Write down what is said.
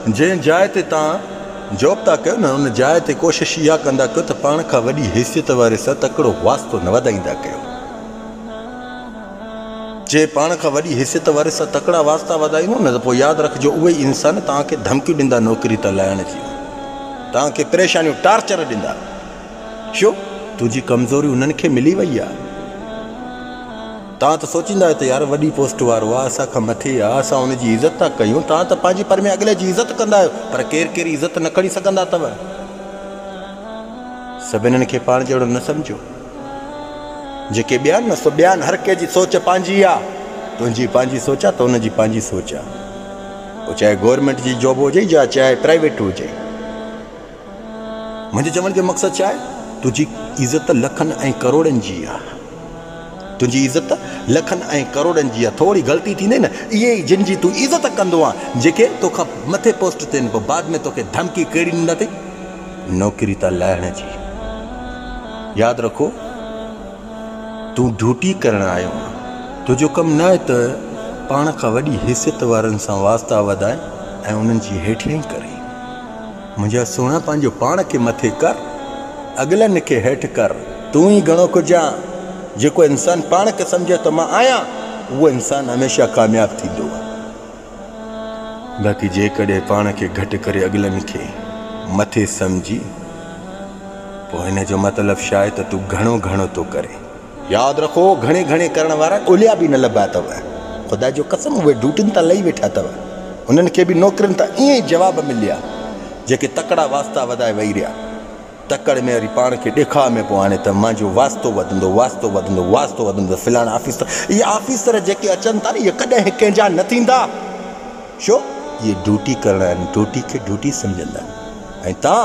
جنهن جاء تي توهان جاب ٿا ڪيو نه ان جاء تي ڪوشش اها ڪندا ڪيو ته پاڻ کان وڏي حيثيت واري سان تڪڙو واسطو نه وڌائيندا ڪيو. جي پاڻ کان وڏي حيثيت واري سان تڪڙا واسطا وڌائيندو نه ته پوء ياد رکجو اهي ئي انسان توهان کي ڌمڪيون ڏيندا نوڪري تان لاهڻ جون توهان کي پريشانيون ٽارچر ڏيندا ڇو تنهنجي ڪمزوري انهن کي ملي وئي آهي. توهان ته سوچيندا آهيو ته يار وڏي پوسٽ وارو آ اسان کان مٿي آ اسان ان جي عزت ٿا ڪيون توهان ته پنهنجي پر ۾ اڳلي جي عزت ڪندا آهيو پر ڪير ڪير عزت نه کڻي سگهندا ٿو سڀنن کي پاڻ جهڙو نه سمجهو جيڪي ٻيان نه سو ٻيان هر ڪنهن جي سوچ پنهنجي آ تنهنجي پنهنجي سوچ آ ته ان جي پنهنجي سوچ آ پوء چاهي گورنمينٽ جي جاب هجي يا چاهي پرائيويٽ هجي منهنجي چوڻ جو مقصد ڇا آهي تنهنجي عزت لکن ۽ ڪروڙن جي آ تنهنجي عزت لکن ۽ ڪروڙن جي آ ٿوري غلطي ٿيندي نه اهي ئي جن جي تون عزت ڪندو آ جيڪي توکان مٿي پوسٽ تين پو بعد ۾ توکي ڌمڪي ڪهڙي ڏيندا اٿئي نوڪري تان لاهڻ جي ياد رکو تون ڊيوٽي ڪرڻ آيو آ تنهنجو ڪم نه آهي ته پاڻ کان وڏي حيثيت وارن سان واسطا وڌائين ۽ انهن جي هيٺيائي ڪرين منهنجا سهڻا پنهنجو پاڻ کي مٿي ڪر، اڳلن کي هيٺ ڪر، تون ئي گهڻو ڪجهه آن. جيڪو انسان پاڻ کي سمجهي ته مان آهيان، اهو انسان هميشه ڪامياب ٿيندو آهي. باقي جيڪڏهن پاڻ کي گهٽ ڪري اڳلن کي مٿي سمجهين، پوء ان جو مطلب شايد ته تون گهڻو گهڻو ٿو ڪرين. ياد رکو گهڻي گهڻي ڪرڻ وارا ڳوليا به نه لڀا اٿو. خدا جي قسم اهي ڊيوٽين تان لهي ويٺا اٿو. انهن کي به نوڪرين تان ائين ئي جواب مليا جيڪي تڪڙا واسطا وڌائي ويهي رهيا. تڪڙ ۾ وري پاڻ کي ڏيکاء ۾ پئو آڻي ته منهنجو واسطو وڌندو واسطو وڌندو واسطو وڌندو فلاڻا آفيسر اهي آفيسر جيڪي اچن ٿا نه اهي ڪڏهن ڪنهن جا نه ٿيندا ڇو اهي ڊيوٽي ڪرڻ آيا آهن ڊيوٽي کي ڊيوٽي سمجهندا آهن ۽ تان